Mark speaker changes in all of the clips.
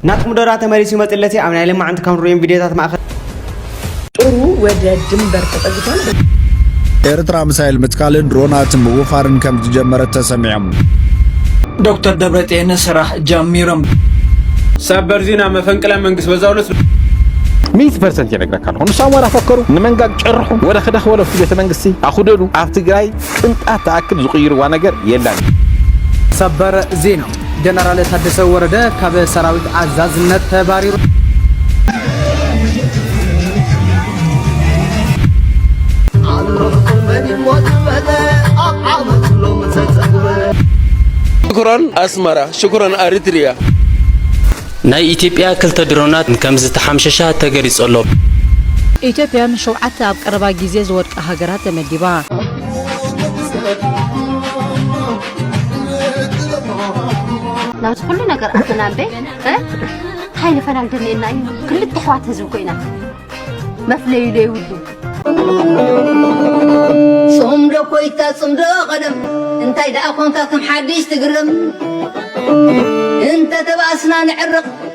Speaker 1: ናቲ ሙደራ ተመሊሱ ይመጽለቲ ኣብ ናይ ለማዕንቲ ካብ ንርእዮም ቪድዮታት ማእኸል ጦሩ ወደ ድንበር ተጠግቷል።
Speaker 2: ኤርትራ ምሳይል ምትካልን ድሮናትን ምውፋርን ከም ዝጀመረት ተሰሚዖም።
Speaker 3: ዶክተር ደብረጤን ስራሕ ጀሚሮም። ሰበር ዜና መፈንቅለ መንግስት በዛው ዕለት ሚት
Speaker 4: ፐርሰንት የነግረካ ኣለኹ ንሱ ኣማራ ፈከሩ ንመንጋግ ጨርሑ ወደ ክደኽ ወለ ኣብቲ ቤተ መንግስቲ ኣኹደዱ ኣብ ትግራይ ቅንጣት ተኣክል ዝቕይርዋ ነገር የላን ሰበር
Speaker 5: ዜና ጀነራል ታደሰ ወረደ ካብ ሰራዊት ኣዛዝነት ተባሪሩ።
Speaker 6: ሽኩረን ኣስመራ ሽኩረን ኣሪትሪያ።
Speaker 7: ናይ ኢትዮጵያ ክልተ ድሮናት ከምዝተሓምሸሻ ተገሊጹ ኣሎ። ኢትዮጵያ
Speaker 8: ንሸውዓተ ኣብ ቀረባ ግዜ ዝወድቃ ሃገራት ተመዲባ።
Speaker 9: ናብዚ ኩሉ ነገር ኣተና እምበ እንታይ ንፈላል ደልየና እዩ ክልተ ኣሕዋት ህዝቢ ኮይና መፍለዩ ዘይብሉ ጽምዶ ኮይታ ጽምዶ ቀደም እንታይ ደኣ ኮንካ ከም ሓድሽ ትግርም እንተ ተባእስና ንዕርቕ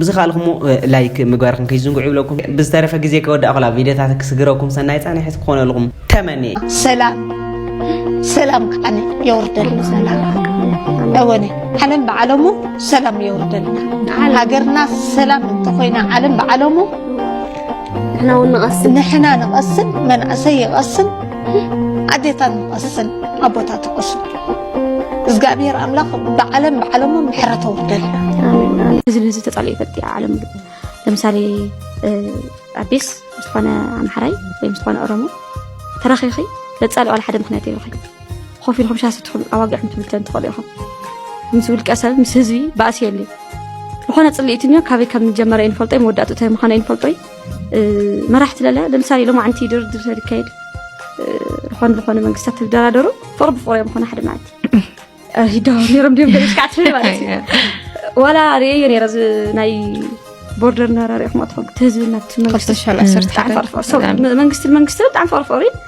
Speaker 1: ብዝካልኩሞ ላይክ ምግባርኩም ከይዝንግዑ ይብለኩም ብዝተረፈ ግዜ ከወዳእኩላ ቪድዮታት ክስግረኩም ሰናይ ፃንሒት ክኾነልኩም ተመንየ ሰላም
Speaker 10: ሰላም ከዓነ የወርደሉ ሰላም እወነ ዓለም ብዓለሙ ሰላም የወርደልና ሃገርና ሰላም እንተኮይና ዓለም ብዓለሙ ንሕና እውን ንቐስን ንሕና ንቐስን መንእሰይ ይቐስን ኣዴታት ንቐስን ኣቦታት ይቐስን እግዚኣብሔር ኣምላኽ ብዓለም ብዓለሙ ምሕረት ኣውርደልና ህዝቢ
Speaker 9: ህዝቢ ተፃልኦ ይፈልጥ እያ ዓለም ለምሳሌ ኣዴስ ዝኾነ ኣምሓራይ ወይም ዝኾነ ኦሮሞ ተራኺኺ ለፃልኦ ዋላ ሓደ ምክንያት የብልኺ ኮፍ ኢልኩም ሻስ ትኽሉ ኣዋጊዕኩም ትብል ትኽእሉ ኢኹም ምስ ውልቀ ሰብ ምስ ህዝቢ ባእሲ የለ ዝኾነ ፅልኢት እኒኦ ካበይ ከም ዝጀመረ ይንፈልጦ መወዳእቱ እንታይ ምዃኑ ይንፈልጦ መራሕቲ ለለ ለምሳሌ ሎማዕንቲ ድርድር ተድካየድ ዝኾነ ዝኾነ መንግስታት ተደራደሩ ፍቕሪ ብፍቕሪ እዮም ዝኾነ ሓደ መዓልቲ ይዳው ነሮም ድም ገለሽካዕ ትብል ማለት እዩ ዋላ ርእየዮ ነረ እዚ ናይ ቦርደር ናራሪኹም ኣትኾን እቲ ህዝብና መንግስቲ መንግስቲ ብጣዕሚ ፍቕሪ ፍቕሪ እዩ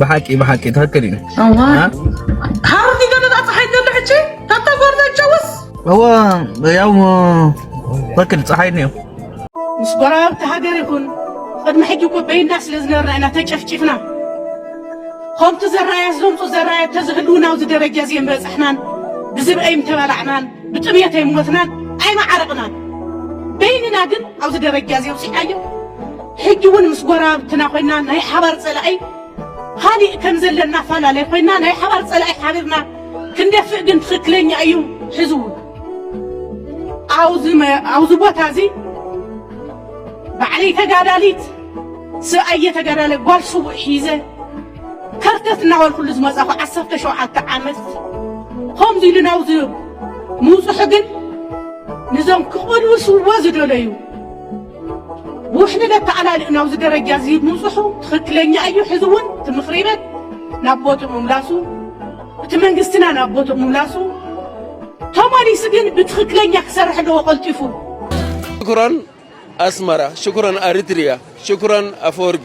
Speaker 11: ብሓቂ
Speaker 3: ብሓቂ ትክክል እዩ
Speaker 11: ካብ ገደላ ፀሓይ ገለ ሕጂ ካብታ ጎርዛ ይጨውስ እዎ
Speaker 3: ያው ትክክል ፀሓይ እኒኦ ምስ
Speaker 12: ጎረባብቲ ሃገር ይኹን ቅድሚ ሕጂ እኮ በይንና ስለ ዝነበርና ኢና ተጨፍጪፍና ከምቲ ዘራያት ዘምፁ ዘራያት ተዝህልውና ኣብዚ ደረጃ እዚ ምበፃሕናን ብዝብ ኣይምተባላዕናን ብጥምየት ኣይሞትናን ኣይመዓረቕናን በይንና ግን ኣብዚ ደረጃ እዚ ውፅኢናዮ ሕጂ ውን ምስ ጎረባብትና ኮይና ናይ ሓባር ጸላኢ ካሊእ ከም ዘለና ፋላላይ ኮይና ናይ ሓባር ጸላኢ ሓቢርና ክንደፍእ ግን ትኽክለኛ እዩ ሕዚ ውን ኣብዚ ቦታ እዚ ባዕለይ ተጋዳሊት ስብኣየ ተጋዳለ ጓል ስውእ ሒዘ ከርተት እናበልኩሉ ዝመጻኹ ዓሰርተ ሸውዓተ ዓመት ከምዚ ኢሉ ናብዚ ምውፅሑ ግን ንዞም ክቕልውስዎ ዝደለዩ ብውሕልል ኣተኣላልእ ናብዚ ደረጃ እዚ ምብፅሑ ትኽክለኛ እዩ። ሕዚ እውን እቲ ምኽሪ ቤት ናብ ቦትኡ ምምላሱ እቲ መንግስትና ናብ ቦትኡ ምምላሱ ተመሊሱ ግን ብትኽክለኛ ክሰርሕ ኣለዎ ቀልጢፉ።
Speaker 6: ሽኩራን ኣስመራ፣ ሽኩራን ኣሪትሪያ፣ ሽኩራን ኣፈወርቂ።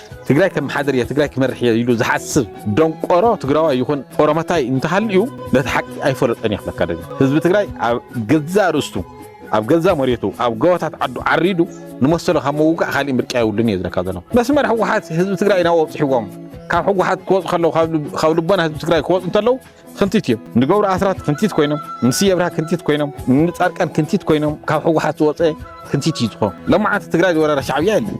Speaker 4: ትግራይ ከመሓድር እየ ትግራይ ክመርሕ እየ ኢሉ ዝሓስብ ደንቆሮ ትግራዋይ ይኹን ኦሮሞታይ እንተሃልዩ ነቲ ሓቂ ኣይፈለጦን እየ ክብለካ ደልየ ህዝቢ ትግራይ ኣብ ገዛእ ርእስቱ ኣብ ገዛእ መሬቱ ኣብ ጎቦታት ዓዱ ዓሪዱ ንመሰሉ ካብ ምውጋእ ካሊእ ምርጫ የብሉን እየ ዝብለካ ዘለኹ መስመር ህወሓት ህዝቢ ትግራይ ናብኡ ኣብፅሕዎም ካብ ህወሓት ክወፁ ከለዉ ካብ ልቦና ህዝቢ ትግራይ ክወፁ እንተለዉ ክንቲት እዮም ንገብሩ ኣስራት ክንቲት ኮይኖም ንስየ ብርሃ ክንቲት ኮይኖም ንፃርቃን ክንቲት ኮይኖም ካብ ሕወሓት ዝወፀ ክንቲት እዩ ዝኾኑ ለማዓንቲ ትግራይ ዝወረረ ሻዕብያ የለን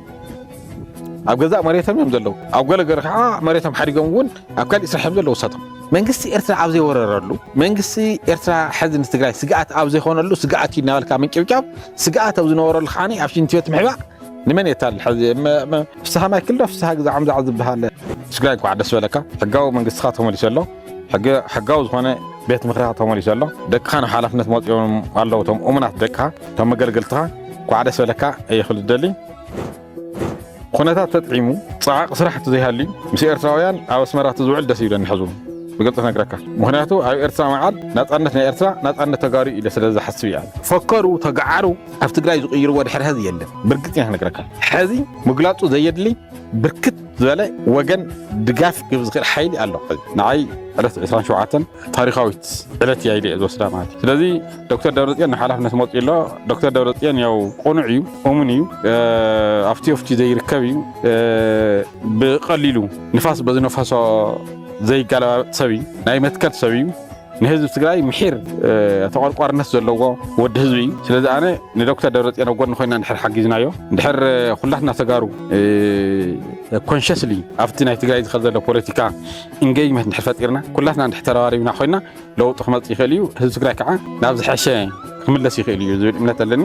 Speaker 4: ኣብ ገዛእ መሬቶም እዮም ዘለዉ ኣብ ገለገለ ከዓ መሬቶም ሓዲጎም እውን ኣብ ካሊእ ስራሕ እዮም ዘለዉ ሰቶም መንግስቲ ኤርትራ ኣብ ዘይወረረሉ መንግስቲ ኤርትራ ሕዚ ንትግራይ ስግኣት ኣብ ዘይኮነሉ ስግኣት እዩ እናበልካ ምንጭብጫብ ስግኣት ኣብ ዝነበረሉ ከዓ ኣብ ሽንቲ ቤት ምሕባእ ንመን የታልል ሕዚ ፍስሃ ማይክል ዶ ፍስሃ ግዛዖም ዛዕ ዝበሃል ትግራይ እንኳዕ ደስ በለካ ሕጋዊ መንግስትኻ ተመሊሱ ኣሎ ሕጋዊ ዝኾነ ቤት ምክርኻ ተመሊሱ ኣሎ ደቅኻ ናብ ሓላፍነት መፂኦም ኣለዉ እቶም እሙናት ደቅኻ እቶም መገልገልትኻ እንኳዕ ደስ በለካ እየ ክብል ዝደሊ ኩነታት ተጥዒሙ ፀዓቂ ስራሕ ዘይሃልዩ ምስ ኤርትራውያን ኣብ ኣስመራ ዝውዕል ደስ ይብለኒ ሕዙ ብግልፂ ነግረካ ምክንያቱ ኣብ ኤርትራ መዓል ናፃነት ናይ ኤርትራ ናፃነት ተጋሩ ኢለ ስለ ዝሓስብ እያ ፈከሩ ተጋዓሩ ኣብ ትግራይ ዝቕይርዎ ድሕሪ ሐዚ የለን። ብርግፅኛ ክነግረካ ሐዚ ምግላፁ ዘየድሊ ብርክት ዝበለ ወገን ድጋፍ ክህብ ዝኽእል ሓይሊ ኣሎ። ንዓይ ዕለት 27 ታሪኻዊት ዕለት እያ ኢለ እየ ዝወስዳ ማለት እዩ። ስለዚ ዶክተር ደብረፅዮን ንሓላፍነት መፅኡ ኣሎ። ዶክተር ደብረፅዮን ያው ቁኑዕ እዩ፣ እሙን እዩ፣ ኣብቲ ወፍቲ ዘይርከብ እዩ፣ ብቐሊሉ ንፋስ በዝነፈሶ ዘይገለባበጥ ሰብ እዩ፣ ናይ መትከል ሰብ እዩ። ንህዝቢ ትግራይ ምሒር ተቆርቋርነት ዘለዎ ወዲ ህዝቢ እዩ ስለዚ ኣነ ንዶክተር ደብረፅዮን ኣብ ጎኒ ኮይና ንድሕር ሓጊዝናዮ ንድሕር ኩላትና ተጋሩ ኮንሽስሊ ኣብቲ ናይ ትግራይ ዝኸ ዘሎ ፖለቲካ ኢንጌጅመንት ንድሕር ፈጢርና ኩላትና ንድሕር ተረባሪብና ኮይና ለውጢ ክመፅእ ይኽእል እዩ ህዝቢ ትግራይ ከዓ ናብ ዝሐሸ ክምለስ ይኽእል እዩ ዝብል እምነት ኣለኒ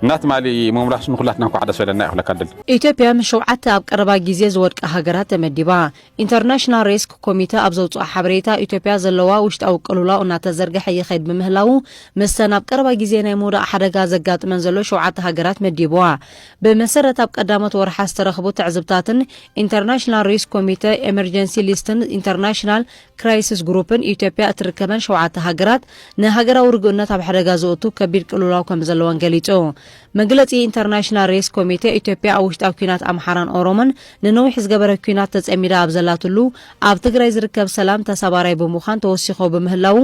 Speaker 4: እና ትማሊ ምምላሱ ንኩላትና እንኳዕ ደስ በለና ይኽለካ ድል ኢትዮጵያ ምስ ሸውዓተ
Speaker 8: ኣብ ቀረባ ግዜ ዝወድቃ ሃገራት ተመዲባ ኢንተርናሽናል ሬስክ ኮሚተ ኣብ ዘውጽኦ ሓበሬታ፣ ኢትዮጵያ ዘለዋ ውሽጣዊ ቅልውላው እናተዘርገሐ ይኸይድ ብምህላዉ፣ ምስተን ኣብ ቀረባ ግዜ ናይ ምውዳቕ ሓደጋ ዘጋጥመን ዘሎ ሸውዓተ ሃገራት መዲብዋ። ብመሰረት ኣብ ቀዳሞት ወርሓት ዝተረኽቡ ትዕዝብታትን ኢንተርናሽናል ሬስክ ኮሚተ፣ ኤመርጀንሲ ሊስትን ኢንተርናሽናል ክራይስስ ግሩፕን፣ ኢትዮጵያ እትርከበን ሸውዓተ ሃገራት ንሃገራዊ ርግኡነት ኣብ ሓደጋ ዘእቱ ከቢድ ቅልውላው ከምዘለወን ገሊጹ። መግለጺ ኢንተርናሽናል ሬስ ኮሚቴ ኢትዮጵያ ኣብ ውሽጣዊ ኲናት ኣምሓራን ኦሮሞን ንነዊሕ ዝገበረ ኲናት ተጸሚዳ ኣብ ዘላትሉ ኣብ ትግራይ ዝርከብ ሰላም ተሳባራይ ብምዃን ተወሲኾ ብምህላዉ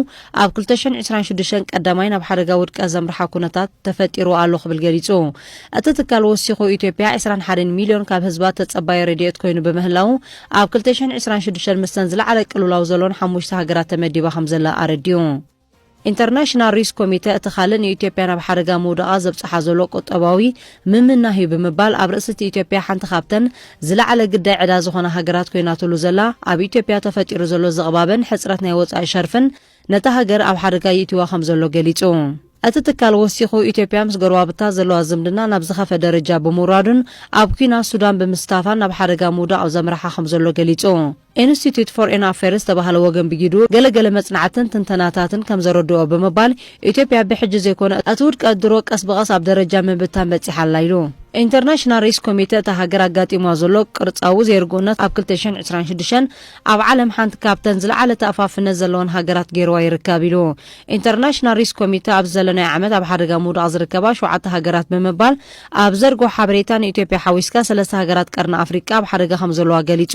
Speaker 8: ኣብ ክልተ ሽሕን ዕስራን ሽዱሽተን ቀዳማይ ናብ ሓደጋ ውድቀት ዘምርሓ ኩነታት ተፈጢሩ ኣሎ ክብል ገሊጹ። እቲ ትካል ወሲኹ ኢትዮጵያ ዕስራን ሓደን ሚልዮን ካብ ህዝባ ተጸባዪ ረድኤት ኮይኑ ብምህላዉ ኣብ ክልተ ሽሕን ዕስራን ሽዱሽተን ምስተን ዝለዓለ ቅልውላው ዘሎን ሓሙሽተ ሃገራት ተመዲባ ከምዘላ ኣረዲኡ። ኢንተርናሽናል ሪስክ ኮሚተ እቲ ካልእ ንኢትዮጵያ ናብ ሓደጋ ምውዳቓ ዘብጽሓ ዘሎ ቁጠባዊ ምምናህ'ዩ ብምባል ኣብ ርእሲ እቲ ኢትዮጵያ ሓንቲ ካብተን ዝለዓለ ግዳይ ዕዳ ዝኾና ሃገራት ኮይናትሉ ዘላ ኣብ ኢትዮጵያ ተፈጢሩ ዘሎ ዝቕባበን ሕጽረት ናይ ወጻኢ ሸርፍን ነታ ሃገር ኣብ ሓደጋ ይእቲዋ ከምዘሎ ገሊጹ። እቲ ትካል ወሲኹ ኢትዮጵያ ምስ ጎረባብታ ዘለዋ ዝምድና ናብ ዝኸፈ ደረጃ ብምውራዱን ኣብ ኲናት ሱዳን ብምስታፋን ናብ ሓደጋ ምውዳቕ ዘምርሓ ከምዘሎ ገሊጹ። ኢንስቲትዩት ፎርኤን ኣፌርስ ዝተባህለ ወገን ብጊዱ ገለ ገለ መጽናዕትን ትንተናታትን ከም ዘረድኦ ብምባል ኢትዮጵያ ብሕጂ ዘይኮነ እቲ ውድቀት ድሮ ቀስ ብቐስ ኣብ ደረጃ ምብታን በጺሓ ኣላ ኢሉ። ኢንተርናሽናል ሪስክ ኮሚተ እታ ሃገር ኣጋጢምዋ ዘሎ ቅርጻዊ ዘይርጉእነት ኣብ ክልተ ሽሕን ዕስራን ሽዱሽተን ኣብ ዓለም ሓንቲ ካብተን ዝለዓለ ተኣፋፍነት ዘለወን ሃገራት ገይርዋ ይርከብ ኢሉ። ኢንተርናሽናል ሪስክ ኮሚተ ኣብዚ ዘለናዮ ዓመት ኣብ ሓደጋ ምውዳቕ ዝርከባ ሸውዓተ ሃገራት ብምባል ኣብ ዘርግሖ ሓበሬታ፣ ንኢትዮጵያ ሓዊስካ ሰለስተ ሃገራት ቀርኒ ኣፍሪቃ ኣብ ሓደጋ ከምዘለዋ ገሊጹ።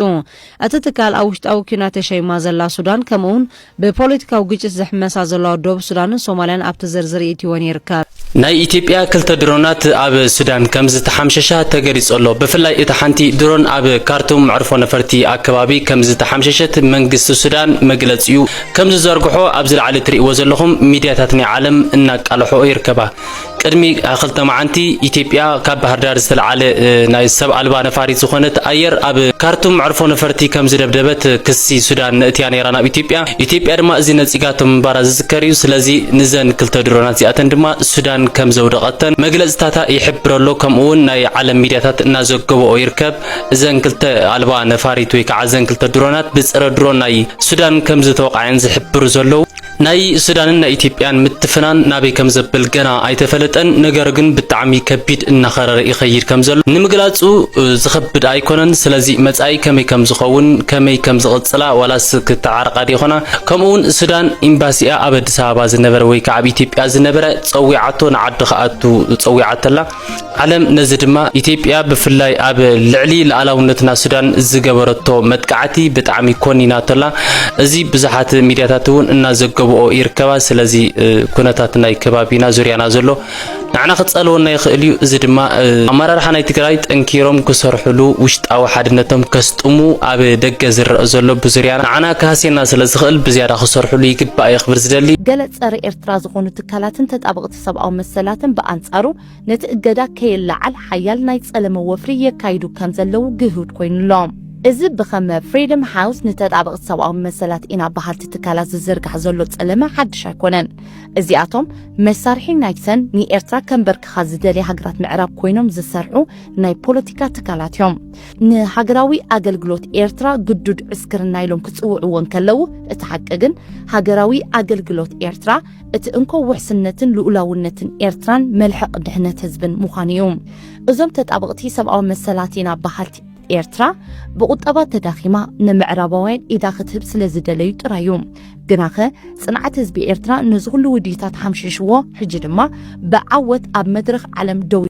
Speaker 8: እቲ ትካል ኣብ ውሽጣዊ ኲናት ተሸይማ ዘላ ሱዳን ከምኡ'ውን ብፖለቲካዊ ግጭት ዝሕመሳ ዘለዋ ዶብ ሱዳንን ሶማልያን ኣብቲ ዝርዝር የእቲወን ይርከብ። ናይ ኢትዮጵያ
Speaker 7: ክልተ ድሮናት ኣብ ሱዳን ከምዝተሓምሸሻ ተገሊጹ'ሎ። ብፍላይ እታ ሓንቲ ድሮን ኣብ ካርቱም መዕርፎ ነፈርቲ ኣከባቢ ከምዝተሓምሸሸት መንግስቲ ሱዳን መግለጺኡ ከምዝዘርግሖ ኣብዚ ላዕሊ ትርእይዎ ዘለኹም ሚድያታት ናይ ዓለም እናቃልሖኦ ይርከባ። ቅድሚ ክልተ መዓንቲ ኢትዮጵያ ካብ ባህርዳር ዝተልዓለ ናይ ሰብ ኣልባ ነፋሪት ዝኾነት ኣየር ኣብ ካርቱም መዕርፎ ነፈርቲ ከም ዝደብደበት ክሲ ሱዳን ነእትያ ነይራ ናብ ኢትዮጵያ። ኢትዮጵያ ድማ እዚ ነጺጋቶ ምንባራ ዝዝከር እዩ። ስለዚ ንዘን ክልተ ድሮናት እዚኣተን ድማ ሱዳን ከም ዘውደቐተን መግለጽታታ ይሕብረሎ ከምኡውን ናይ ዓለም ሚድያታት እናዘገበኦ ይርከብ። እዘን ክልተ ኣልባ ነፋሪት ወይ ከዓ እዘን ክልተ ድሮናት ብጸረ ድሮን ናይ ሱዳን ከም ዝተወቕዐን ዝሕብሩ ዘለዉ ናይ ሱዳንን ናይ ኢትዮጵያን ምትፍናን ናበይ ከም ዘብል ገና ኣይተፈለጠን። ነገሩ ግን ብጣዕሚ ከቢድ እናኸረረ ይኸይድ ከም ዘሎ ንምግላጹ ዝኸብድ ኣይኮነን። ስለዚ መጻኢ ከመይ ከም ዝኸውን ከመይ ከም ዝቕጽላ ዋላስ ክተዓረቓ ዶ ይኾና? ከምኡ'ውን ሱዳን ኢምባሲኣ ኣብ ኣዲስ ኣበባ ዝነበረ ወይ ከዓ ኣብ ኢትዮጵያ ዝነበረ ጸዊዓቶ ንዓዱ ክኣቱ ጸዊዓቶ ኣላ። ዓለም ነዚ ድማ ኢትዮጵያ ብፍላይ ኣብ ልዕሊ ሉዓላውነትና ሱዳን ዝገበረቶ መጥቃዕቲ ብጣዕሚ ኮኒናቶላ እዚ ብዙሓት ሚድያታት እውን እናዘገብኦ ይርከባ ስለዚ ኩነታት ናይ ከባቢና ዙርያና ዘሎ ንዓና ክጸልወና ይኽእል እዩ እዚ ድማ ኣመራርሓ ናይ ትግራይ ጠንኪሮም ክሰርሕሉ ውሽጣዊ ሓድነቶም ከስጥሙ ኣብ ደገ ዝረአ ዘሎ ብዙርያና ንዓና ክሃስየና ስለ ዝኽእል ብዝያዳ ክሰርሕሉ ይግባእ እየ ክብል ዝደሊ ገለ ጸረ ኤርትራ
Speaker 13: ዝኾኑ ትካላትን ተጣበቕቲ ሰብኣዊ መሰላትን ብኣንጻሩ ነቲ እገዳ ከይለዓል ሓያል ናይ ጸለመ ወፍሪ የካይዱ ከም ዘለዉ ግሁድ ኮይኑ ኣሎ። እዚ ብኸም ፍሪደም ሃውስ ንተጣበቕቲ ሰብኣዊ መሰላት ኢና በሃልቲ ትካላት ዝዝርጋሕ ዘሎ ጸለመ ሓድሽ ኣይኮነን። እዚኣቶም መሳርሒ ናይ ተን ንኤርትራ ከምበርክኻ ዝደልያ ሃገራት ምዕራብ ኮይኖም ዝሰርሑ ናይ ፖለቲካ ትካላት እዮም። ንሃገራዊ ኣገልግሎት ኤርትራ ግዱድ ዕስክርና ኢሎም ክጽውዕዎ እንከለዉ እቲ ሓቂ ግን ሃገራዊ ኣገልግሎት ኤርትራ እቲ እንኮ ውሕስነትን ልኡላውነትን ኤርትራን መልሕቕ ድሕነት ህዝብን ምዃኑ እዩ። እዞም ተጣበቕቲ ሰብኣዊ መሰላት ኢና በሃልቲ ኤርትራ ብቑጠባ ተዳኺማ ንምዕራባውያን ኢዳ ክትህብ ስለ ዝደለዩ ጥራይ እዩ። ግናኸ ጽንዓት ህዝቢ ኤርትራ ነዚ ኩሉ ውዲታት ሓምሺሽዎ ሕጂ ድማ ብዓወት ኣብ መድረኽ ዓለም ደው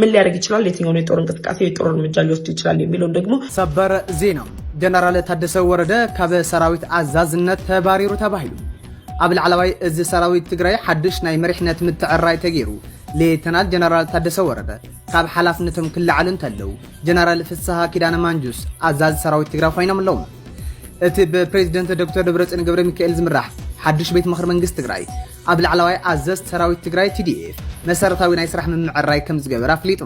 Speaker 14: ምን ሊያደርግ ይችላል? የትኛውን የጦር እንቅስቃሴ የጦር እርምጃ ሊወስድ ይችላል? የሚለውን ደግሞ ሰበር ዜና
Speaker 5: ጀነራል ታደሰ ወረደ ካብ ሰራዊት ኣዛዝነት ተባሪሩ ተባሂሉ ኣብ ላዕለዋይ እዚ ሰራዊት ትግራይ ሓድሽ ናይ መሪሕነት ምትዕራይ ተገይሩ ሌተናል ጀነራል ታደሰ ወረደ ካብ ሓላፍነቶም ክለዓሉ እንተለው ጀነራል ፍስሃ ኪዳነ ማንጁስ ኣዛዝ ሰራዊት ትግራይ ኮይኖም ኣለዉ እቲ ብፕሬዚደንት ዶክተር ደብረፅዮን ገብረ ሚካኤል ዝምራሕ ሓድሽ ቤት ምኽሪ መንግስቲ ትግራይ ኣብ ላዕላዋይ ኣዘዝት ሰራዊት ትግራይ፣ TDF፣ መሰረታዊ ናይ ስራሕ ምምዕርራይ ከምዝገበረ ኣፍሊጡ።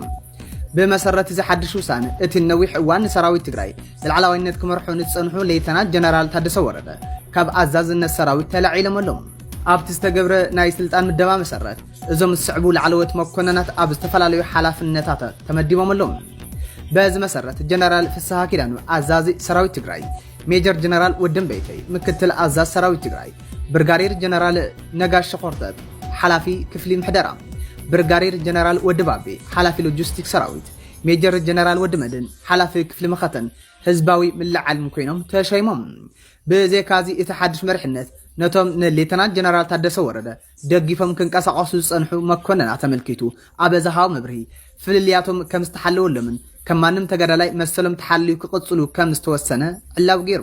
Speaker 5: ብመሰረት እዚ ሓድሽ ውሳነ፣ እቲ ንነዊሕ እዋን ንሰራዊት ትግራይ ብላዕላዋይነት ክመርሑ ንዝፀንሑ ሌተናል ጀነራል ታደሰ ወረደ ካብ ኣዛዝነት ሰራዊት ተላዒሎም ኣለው። ኣብቲ ዝተገብረ ናይ ስልጣን ምደባ መሰረት፣ እዞም ዝስዕቡ ላዕለዎት መኮነናት ኣብ ዝተፈላለዩ ሓላፍነታተ ተመዲቦም ኣለው። በዚ መሰረት ጀነራል ፍስሃ ኪዳኑ ኣዛዚ ሰራዊት ትግራይ፣ ሜጀር ጀነራል ወዲ እምበይተይ ምክትል ኣዛዝ ሰራዊት ትግራይ፣ ብርጋዴር ጀነራል ነጋሽ ሸኾርተት ሓላፊ ክፍሊ ምሕደራ፣ ብርጋዴር ጀነራል ወዲ ባቤ ሓላፊ ሎጂስቲክ ሰራዊት፣ ሜጀር ጀነራል ወዲ መድህን ሓላፊ ክፍሊ መኸተን ህዝባዊ ምልዕዓልን ኮይኖም ተሸይሞም። ብዘይካዚ እቲ ሓዱሽ መሪሕነት ነቶም ንሌተናል ጀነራል ታደሰ ወረደ ደጊፎም ክንቀሳቐሱ ዝጸንሑ መኮነናት ኣመልኪቱ ኣብ ዝሃቦ መብርሂ፣ ፍልልያቶም ከም ዝተሓለወሎምን ከም ማንም ተጋዳላይ መሰሎም ተሓልዩ ክቕጽሉ ከም ዝተወሰነ ዕላዊ ገይሩ።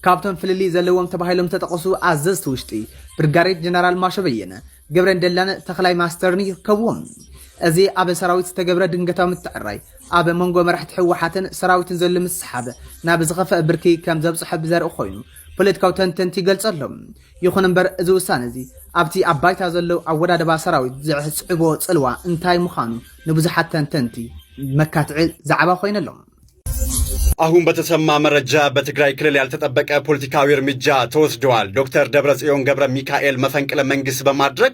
Speaker 5: ካብቶም ፍልልይ ዘለዎም ተባሂሎም ዝተጠቐሱ ኣዘዝቲ ውሽጢ፣ ብርጋዴር ጀነራል ማሾ በየነ፣ ገብረን ደላን ተኽላይ ማስተርን ይርከብዎም። እዚ ኣብ ሰራዊት ዝተገብረ ድንገታዊ ምትዕርራይ፣ ኣብ መንጎ መራሕቲ ህወሓትን ሰራዊትን ዘሎ ምስሕሓብ ናብ ዝኸፍኣ ብርኪ ከም ዘብጽሖ ብዘርኢ ኮይኑ ፖለቲካዊ ተንተንቲ ይገልጾ ኣሎ። ይኹን እምበር እዚ ውሳነ እዚ ኣብቲ ኣብ ባይታ ዘሎ ኣወዳድባ ሰራዊት ዘዕጽዕቦ ጽልዋ እንታይ ምዃኑ ንብዙሓት ተንተንቲ መካትዒ ዛዕባ ኮይኑ ኣሎ።
Speaker 15: አሁን በተሰማ መረጃ በትግራይ ክልል ያልተጠበቀ ፖለቲካዊ እርምጃ ተወስደዋል። ዶክተር ደብረጽዮን ገብረ ሚካኤል መፈንቅለ መንግስት በማድረግ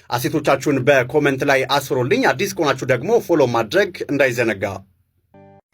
Speaker 15: አሴቶቻችሁን በኮመንት ላይ አስፍሩልኝ። አዲስ ከሆናችሁ ደግሞ ፎሎ ማድረግ እንዳይዘነጋ።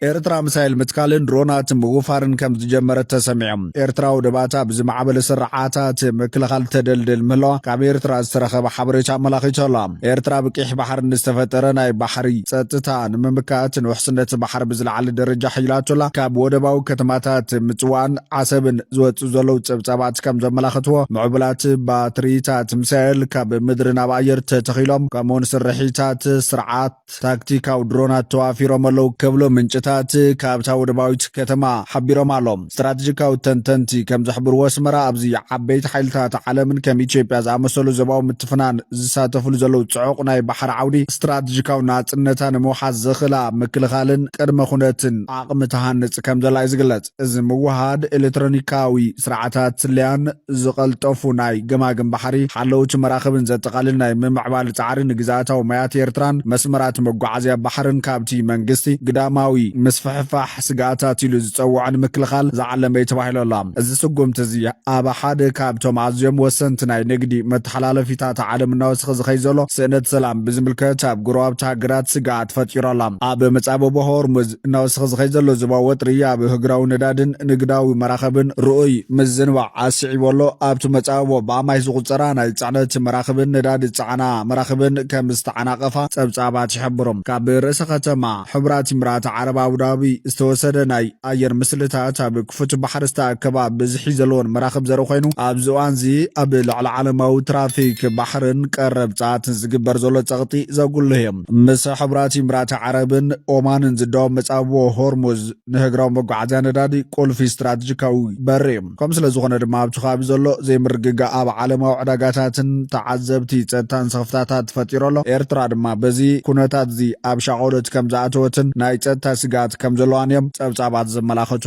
Speaker 2: ኤርትራ ምሳይል ምትካልን ድሮናት ምውፋርን ከም ዝጀመረት ተሰሚዖም ኤርትራ ውድባታ ብዝማዕበለ ስርዓታት ምክልኻል ተደልድል ምህለዋ ካብ ኤርትራ ዝተረኸበ ሓበሬታ ኣመላኺቶ ኣላ ኤርትራ ብቂሕ ባሕሪ ንዝተፈጠረ ናይ ባሕሪ ጸጥታ ንምምካት ንውሕስነት ባሕሪ ብዝለዓለ ደረጃ ሕይላቶላ ካብ ወደባዊ ከተማታት ምጽዋን ዓሰብን ዝወጽኡ ዘለዉ ጸብጻባት ከም ዘመላኽትዎ፣ ምዕቡላት ባትሪታት ሚሳኤል ካብ ምድሪ ናብ ኣየር ተተኺሎም፣ ከምኡውን ስርሒታት ስርዓት ታክቲካዊ ድሮናት ተዋፊሮም ኣለዉ ክብሉ ምንጭታት ካብታ ወደባዊት ከተማ ሓቢሮም ኣሎም። ስትራተጂካዊ ተንተንቲ ከም ዝሕብርዎ፣ ኣስመራ ኣብዚ ዓበይቲ ሓይልታት ዓለምን ከም ኢትዮጵያ ዝኣመሰሉ ዞባዊ ምትፍናን ዝሳተፍሉ ዘለዉ ጽዑቕ ናይ ባሕሪ ዓውዲ ስትራተጂካዊ ናጽነታ ንምውሓስ ዘኽእላ ምክልኻልን ቅድመ ኩነትን ዓቕሚ ትሃንጽ ከም ዘላ እዩ ዝግለጽ። እዚ ምውህሃድ ኤሌክትሮኒካዊ ስርዓታት ስለያን ዝቐልጠፉ ናይ ገማግም ባሕሪ ሓለውቲ መራኽብን ዘጠቓልል ናይ ምምዕባል ጻዕሪ ንግዝኣታዊ ማያት ኤርትራን መስመራት መጓዓዝያ ባሕርን ካብቲ መንግስቲ ግዳማዊ ምስፍሕፋሕ ስግኣታት ኢሉ ዝጸውዖ ንምክልኻል ዝዓለመ'ዩ ተባሂሉ ኣሎ። እዚ ስጉምቲ'ዚ ኣብ ሓደ ካብቶም ኣዝዮም ወሰንቲ ናይ ንግዲ መተሓላለፊታት ዓለም እናወሰኸ ዝኸይድ ዘሎ ስእነት ሰላም ብዝምልከት ኣብ ጎረባብቲ ሃገራት ስግኣት ፈጢሩ ኣሎ። ኣብ መጻብቦ ሆርሙዝ፣ እናወሰኸ ዝኸይድ ዘሎ ዞባዊ ወጥሪ ኣብ ህግራዊ ነዳድን ንግዳዊ መራኸብን ርኡይ ምዝንባዕ ኣስዒቡ ኣሎ። ኣብቲ መጻብቦ ብኣማይት ዝቑጸራ ናይ ጽዕነት መራኽብን ነዳዲ ዝጸዓና መራኽብን ከም ዝተዓናቐፋ ጸብጻባት ይሕብሩ። ካብ ርእሰ ከተማ ሕቡራት ኢምራት ዓረብ ኣቡዳቢ ዝተወሰደ ናይ ኣየር ምስልታት ኣብ ክፉት ባሕሪ ዝተኣከባ ብዝሒ ዘለወን መራኽብ ዘርኢ ኮይኑ፣ ኣብዚ እዋንዚ ኣብ ልዕሊ ዓለማዊ ትራፊክ ባሕርን ቀረብ ጸዓትን ዝግበር ዘሎ ጸቕጢ ዘጉልህ እዩ። ምስ ሕብራት ኢምራት ዓረብን ኦማንን ዝዳወብ መጻብቦ ሆርሙዝ ንህግራዊ መጓዓዝያ ነዳዲ ቁልፊ ስትራተጂካዊ በሪ እዩ። ከምኡ ስለ ዝኾነ ድማ ኣብቲ ከባቢ ዘሎ ዘይምርግጋእ ኣብ ዓለማዊ ዕዳጋታትን ተዓዘብቲ ጸጥታን ስኽፍታታት ፈጢሩ ኣሎ። ኤርትራ ድማ በዚ ኩነታትዚ ኣብ ሻቕሎት ከም ዝኣተወትን ናይ ጸጥታ ስግኣት ከም ዘለዋን እዮም ጸብጻባት ዘመላኽቱ።